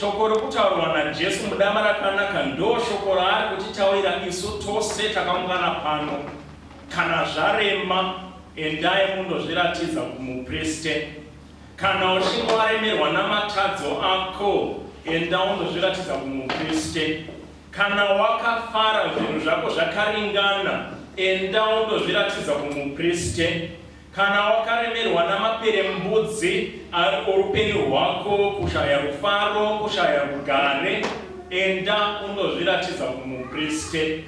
Shoko rokutaurwa naJesu mudama rakanaka ndoshoko raari kutitaurira isu tose takaungana pano. Kana zvarema, endai mundozviratidza kumupriste. Kana uchinge waremerwa namatadzo ako, enda undozviratidza kumupriste. Kana wakafara zvinhu zvako zvakaringana, enda undozviratidza kumupriste. Kana wakaremerwa namaperembudzi oupenyu hwako, kushaya rufaro, kushaya rugare, enda undozviratidza kumupriste.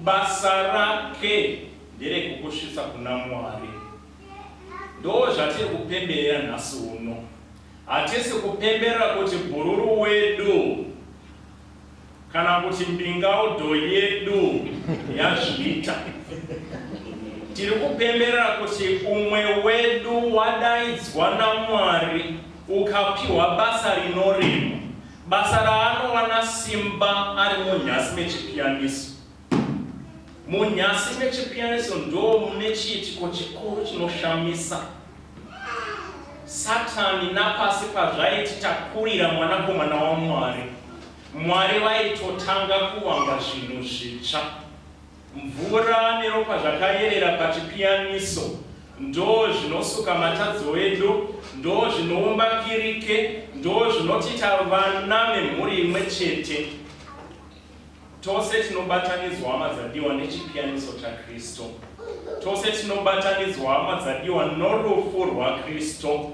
Basa rake nderekukusvitsa kuna Mwari. Ndozvatiri kupemberera nhasi uno. Hatisi kupemberera kuti bhururu wedu Kana kuti mbingaudo yedu yazviita. Tiri kupemberera kuti umwe wedu wadaidzwa naMwari ukapiwa basa rinorema, basa raanowana simba ari munhasi mechipiyaniso. Munyasi meChipianiso ndoo mune chiitiko chikuru chinoshamisa. Satani napasi pazvaiti takurira Mwanakomana waMwari, Mwari vaitotanga kuvamba zvinhu zvitsva. Mvura neropa zvakayerera paChipianiso ndoo zvinosuka matadzo edu, ndoo zvinoumba kirike, ndoo zvinotiita vana vemhuri imwe chete. Tose tinobatanidzwa hama dzadiwa nechipiyaniso chaKristu. Tose tinobatanidzwa hama dzadiwa norufu rwaKristu.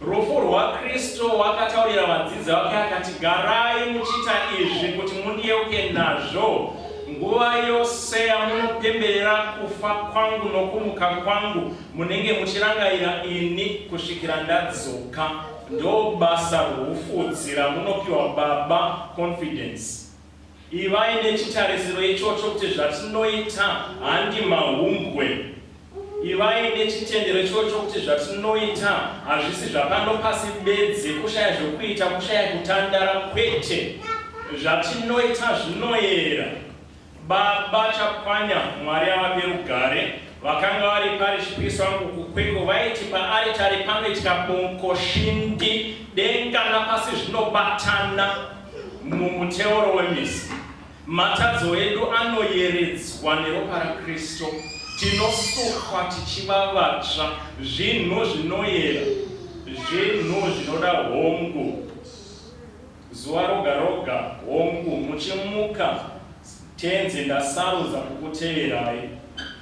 Rufu rwaKristu wakataurira vadzidzi vake akati, garai muchiita izvi kuti mundiyeuke nazvo nguva yose yamunopemberera kufa kwangu nokumuka kwangu, munenge muchirangaira ini kusvikira ndadzoka. Ndobasa rwufudzi ramunopiwa baba confidence ivai nechitarisiro ichocho kuti zvatinoita handi mahumbwe ivai nechitendero ichocho kuti zvatinoita hazvisi zvapano pasi bedzi kushaya zvekuita kushaya kutandara kwete zvatinoita zvinoyera Baba Chakwanya, Mwari avape rugare, vakanga vari parish priest vangu kuKwekwe vaiti paaritari panoitika bonko shindi, denga napasi zvinobatana mumuteuro wemisi. Matadzo edu anoyeredzwa neropa raKristo, tinosukwa tichiva vatsva, zvinhu zvinoyera, zvinhu zvinoda hongu. Zuva roga roga, hongu, muchimuka, Tenzi, ndasarudza kukuteverai.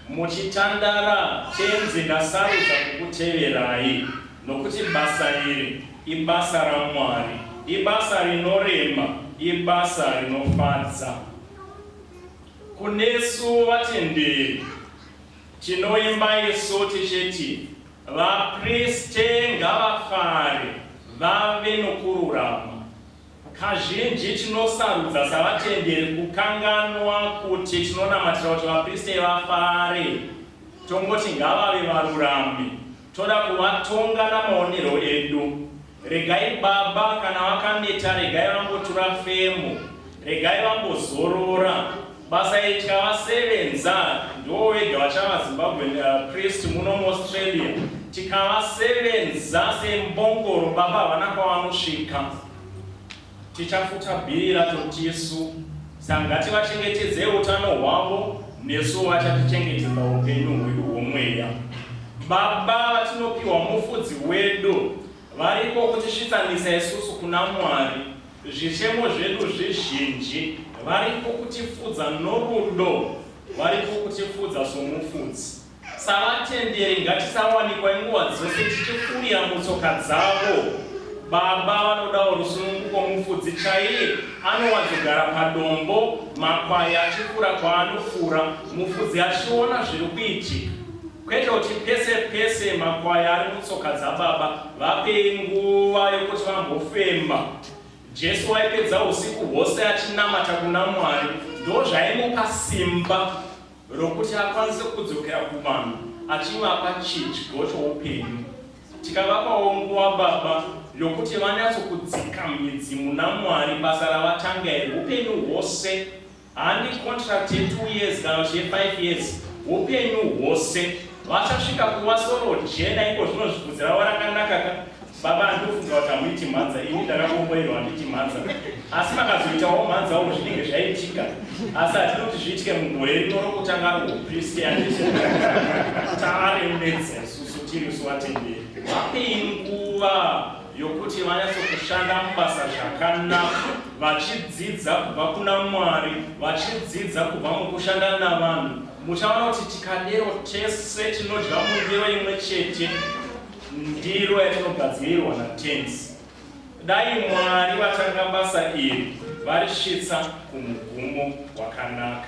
Muchitandara, Tenzi, ndasarudza kukuteverai, nokuti basa iri ibasa raMwari, ibasa rinorema, ibasa rinofadza. Kunesu vatenderi. Tinoimba isu tichiti vaPriste ngavafare vave nokururama. Kazhinji tinosarudza savatenderi kukanganwa kuti tinonamatira kuti vaPriste vafare. Tongoti ngavave varurami. Toda kuvatonga namaonero edu. Regai baba kana vakaneta regai vambotura femo regai vambozorora basa itya vasevenza ndiwo wega vachava Zimbabwean uh, priest muno muAustralia tikavasevenza sembongoro baba havana kwavanosvika Tichafuta bhiri racho tisu. Saka ngativachengetedzei utano hwavo nesuwo vachatichengetedza upenyu hwedu hwomweya. Baba vatinopiwa Mufudzi wedu variko kutisvitsanisa isusu kuna Mwari. Zvichemo zvedu zvizhinji variko kutifudza norudo, variko kutifudza soMufudzi. Savatenderi ngatisawanikwa nguva dzose tichifurira mutsoka dzavo. Baba vanodawo rusununguko mufudzi chaiye anowanzogara padombo makwai achifura kwaanofura mufudzi achiona zviri kuitika kwete kuti pese pese makwai ari mutsoka dzababa vapei nguva yokuti vambofemba jesu waipedza usiku hwose achinamata kuna mwari ndozvaimupa simba rokuti akwanise kudzokera kuvanhu achivapa chidyo choupenyu. Tikavapawo nguva Baba yokuti vanyatsokudzika midzi muna Mwari, basa ravatanga iri upenyu hwose, handi contract ye2 years kana kuti ye5 years, upenyu hwose vachasvika kuva soro jena iko zvino zvibvudzi ravo rakanakaka Baba ndofunga kuti hamuiti mhanza ini ndakakomboerwa handiti mhanza asi makazoitawo mhanzawo zvinenge zvaitika asi hatidi kuti zviitike mugore rino rokutanga rohupristi handiti taaremedza isusu tiri suvatenderi vapei nguva yokuti vanyatsokushanda mubasa zvakanaka vachidzidza kubva kuna mwari vachidzidza kubva mukushanda navanhu muchaona kuti tikadero tese tinodya mundiro imwe chete Ndiro yatinogadzirirwa naTenzi. Dai Mwari vatanga basa iri varisvitsa kumugumo wakanaka.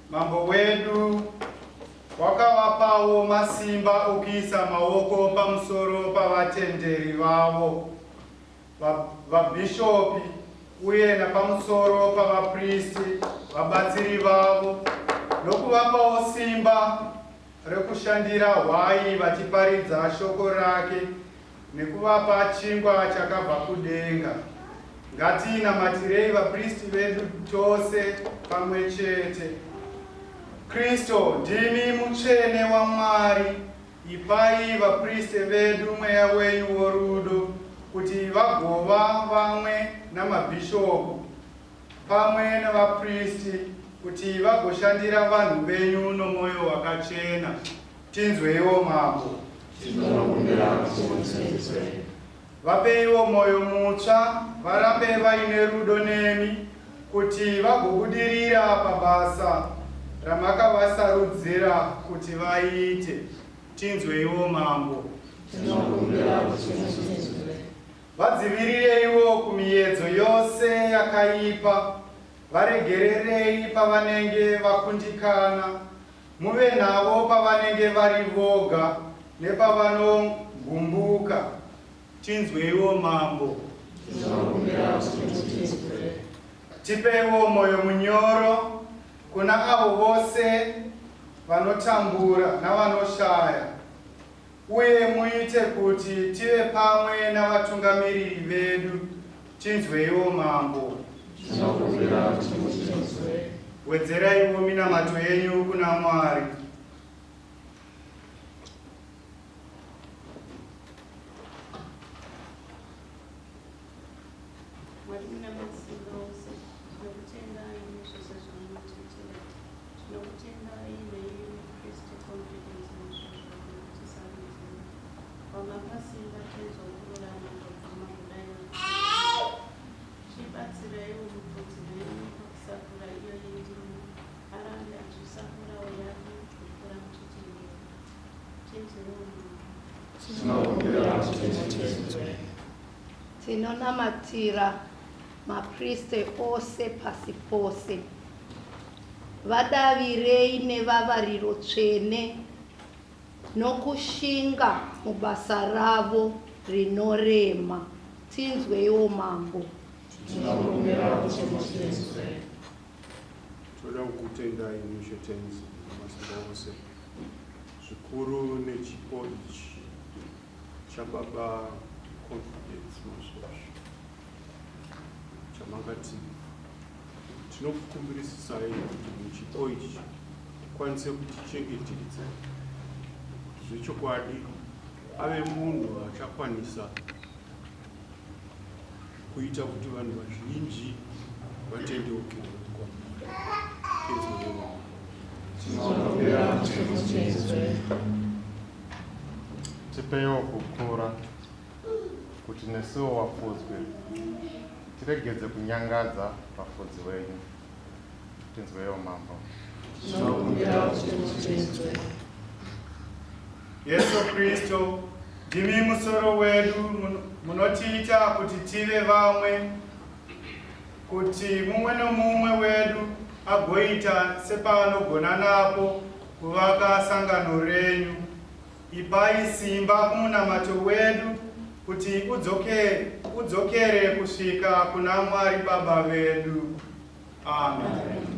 Mambo wedu wakavapawo masimba okuisa maoko pamusoro pavatenderi vavo vabhishopi uye napamusoro pavapristi vabatsiri vavo nokuvapawo simba rekushandira hwai vachiparidza shoko rake nekuvapa chingwa chakabva kudenga. Ngatiinamatirei vapristi vedu tose pamwe chete. Kristo, ndimi mutsvene waMwari, ipai vapristi vedu mweya wenyu worudo kuti vagova vamwe namabhishopu pamwe nevapristi kuti vagoshandira vanhu venyu nomwoyo wakachena. Tinzweiwo Mambo. Tinokumbira kuti mutinzwe. Vapeiwo mwoyo mutsva varambe vaine rudo nemi kuti vagobudirira pabasa ramakavasarudzira kuti vaite. Tinzweiwo Mambo. Tinokumbira kuti mutinzwe. Vadzivirireiwo kumiyedzo yose yakaipa, varegererei pavanenge vakundikana Muve navo pavanenge vari voga nepavanogumbuka. Tinzweiwo Mambo. Tinokumbira kuti tinzwe. Tipeiwo moyo munyoro kuna avo vose vanotambura navanoshaya. Uye muite kuti tive pamwe navatungamiriri vedu, tinzweiwo Mambo. Tinokumbira kuti mutinzwe. Wedzeraiwo minamato yenyu kuna Mwari. Mwari muna masimba ose, tinokutendai nezvose zvamunotiitira. Tinokutendai neiyi Kristu confidence nezvazvakuri kutisarudzira. Wamakasimba tenzo kururama kwabvuma kudai nakuti. Tibatsiraiwo mupfudzi wenyu pakusakura iyo yendimi arambe achisakurawo yake kupfuura muchitendero. Tenzewo mama. Tinokumbira kuti titendwe. Tinonamatira maPriste ose pasi pose. Vadavirei nevavariro tsvene nokushinga mubasa ravo rinorema. Tinzweiwo Mambo. Tinokumbira kuti mutinzwe. Toda kukutendai Mushe Tenzi Masimba Ose zvikuru nechipo ichi Chababa Confidence Masvosvo chamakati tinokukumbirisisai kuti muchipo ichi tikwanise kutichengetedza kuti zvechokwadi ave munhu achakwanisa kuita kuti vanhu vazhinji vatendeuke kwamuri. Thank you. Tipeiwo kukura kuti nesuwo wafudzwi tiregedze kunyangadza vafudzi wenyu. Tinzweiwo Mambo. Tinokumbirawo kuti mutinzwe. Yesu Kristu, ndimi musoro wedu, mun- munotiita kuti tive vamwe, kuti mumwe nomumwe wedu agoita sepaanogona napo Kuvaka sangano renyu. Ipai simba kumunamato wedu kuti udzokere, udzokere kusvika kuna Mwari Baba vedu. Amen.